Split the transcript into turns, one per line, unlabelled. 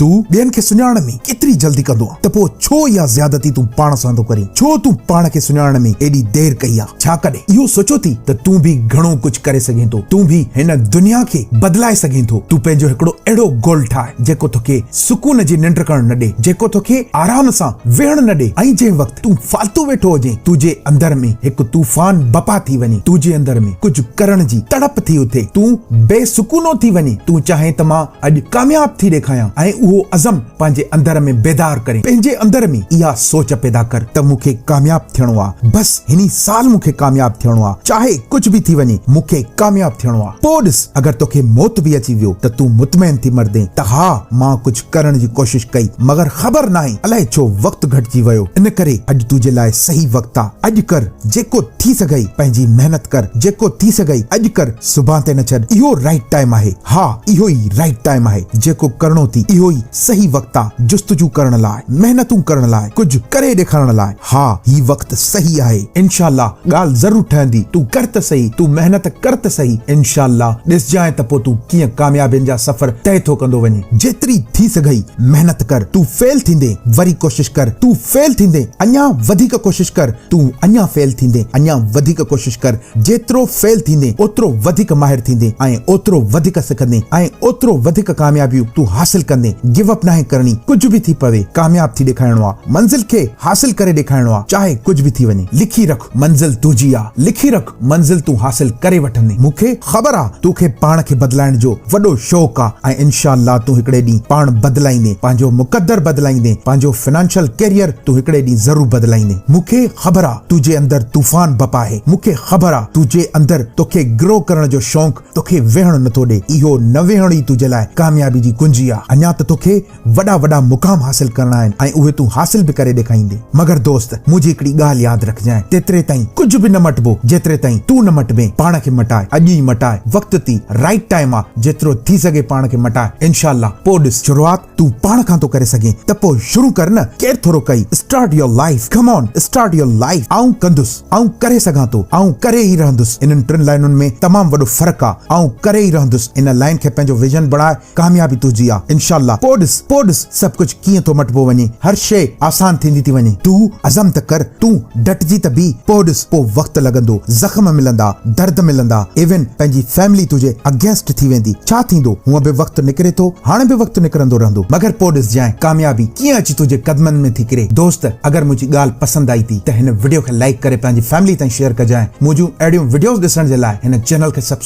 تون ٻين کي سڃاڻڻ ۾ ايتري جلدي ڪندو آهين ته پوء ڇو اها زيادتي تون پاڻ سان ٿو ڪرين؟ ڇو تون پاڻ کي سڃاڻڻ ۾ ايڏي دير ڪئي آهي؟ ڇا ڪڏهن اهو سوچيو اٿئي ته تون به گهڻو ڪجهه ڪري سگهين ٿو؟ تون به هن دنيا کي بدلائي سگهين ٿو؟ تون پنهنجو هڪڙو اهڙو گول ٺاهه جيڪو توکي سڪون جي ننڊ ڪرڻ نه ڏئي، جيڪو توکي آرام سان ويهڻ نه ڏئي ۽ جنهن وقت تون فالتو ويٺو هجين تنهنجي اندر ۾ هڪ طوفان بپا ٿي وڃي، تنهنجي اندر ۾ ڪجهه ڪرڻ جي تڙپ ٿي اٿي، تون بي سڪونو ٿي وڃين، تون چاهين ته مان. اڄ ڪامياب ٿي ڏيکايان ۽ اهو عزم پنهنجي اندر ۾ بيدار ڪرين پنهنجي اندر ۾ اها سوچ پيدا ڪر ته مون کي ڪامياب ٿيڻو آ بس هني سال مون کي ڪامياب ٿيڻو آ چاهي ڪجهه به ٿي وڃي مون کي ڪامياب ٿيڻو آ پوء ڏس اگر توکي موت به اچي ويو ته تون مطمئن ٿي مردين ته ها مان ڪجهه ڪرڻ جي ڪوشش ڪئي مگر خبر ناهي الائي ڇو وقت گهٽجي ويو ان ڪري اڄ تنهنجي لاء صحيح وقت آ اڄ ڪر جيڪو ٿي سگهئي پنهنجي محنت ڪر جيڪو ٿي سگهئي اڄ ڪر سڀان تي نه ڇڏ اهو رائٽ ٽائيم آهي ها اهو ئي رائٽ ٽائيم آهي جيڪو ڪرڻو ٿي اهو ئي صحيح وقت آ جستجو ڪرڻ لاء محنتون ڪرڻ لاء ڪجهه ڪري ڏيکارڻ لاء ها هي وقت صحيح آهي انشاء الله ڳالهه ضرور ٺهندي تون ڪر ته صحيح تون محنت ڪر ته صحيح انشاء الله ڏسجانء ته پو تون ڪيئن ڪاميابين جا سفر طئي ٿو ڪندو وڃين جيتري ٿي سگهئي محنت ڪر تون فيل ٿيندين وري ڪوشش ڪر تون فيل ٿيندين اڃان وڌيڪ ڪوشش ڪر تون اڃا فيل ٿيندين اڃا وڌيڪ ڪوشش ڪر جيترو فيل ٿيندين اوترو وڌيڪ ماهر ٿيندين ۽ اوترو وڌيڪ سکندين ۽ اوترو وڌيڪ ڪاميابيون تون حاصل ڪندين گيو اپ ناهي ڪرڻي ڪجهه به ٿي پوي ڪامياب ٿي ڏيکارڻو آ منزل کي حاصل ڪري ڏيکارڻو آ چاهي ڪجهه به ٿي وڃي لکي رک منزل تنهنجي آ لکي رک. منزل تون حاصل ڪري وٺندين مون کي خبر آ تو کي پاڻ کي بدلائڻ جو وڏو شوق آ ۽ انشاء الله تون هڪڙي ڏينهن پاڻ بدلائيندين پنهنجو مقدر بدلائيندين پنهنجو فنانشل ڪيريئر تون هڪڙي ڏينهن ضرور بدلائيندين مون کي خبر آ تو جي اندر طوفان بپ آهي مون کي خبر آ تو جي اندر تو کي گرو ڪرڻ جو شونق تو کي ويهڻ نٿو ڏي اهو نه ويهڻ ئي تو جي لاء ڪاميابي جي ڪنجي آ اڃا ته تو کي وڏا وڏا مقام حاصل ڪرڻا آهن ۽ اهي تون حاصل به ڪري ڏيکائيندي. مگر دوست منهنجي هڪڙي ڳالهه ياد رکجانء تيتري تائين ڪجهه به نه مٽبو جيتري تائين تون نه مٽبين پاڻ کي مٽاء اڄ ئي مٽاء وقت تي رائيٽ ٽائيم آ جيترو ٿي سگهي پاڻ کي مٽاء انشاء الله پوء ڏس شروعات تون پاڻ کان ٿو ڪري سگهين ته پوء شروع ڪر نه ڪير ٿورو ڪئي start your life come on start your life آئون ڪندس آئون ڪري سگهان ٿو آئون ڪري ئي رهندس انهن ٽن لائينن ۾ تمام وڏو فرق آ آئون ڪري ئي رهندس ان لائين کي پنهنجو ويزن بڻاء ڪاميابي تنهنجي آ انشاء الله پوء ڏس پوء ڏس سڀ ڪجهه ڪيئن ٿو مٽبو وڃي هر شيء آسان ٿيندي ٿي وڃي تون عزم ته ڪر تون ڊٽجي ته بيهه پوء ڏس پوء وقت لڳندو زخم ملندا درد ملندا ايون پنهنجي فيملي تنهنجي اگينسٽ ٿي ويندي ڇا ٿيندو هونء به وقت نڪري ٿو هاڻ به وقت نڪرندو رهندو مگر پوء ڏس جانء ڪاميابي ڪيئن اچي تنهنجي قدمن ۾ ٿي ڪري دوست اگر منهنجي ڳالهه پسند آئي ٿي ته هن وڊيو کي لائيڪ ڪري پنهنجي فيملي تائين شيئر ڪجانء منهنجون اهڙيون وڊيوز ڏسڻ جي لاء هن چينل کي سبسڪرائيب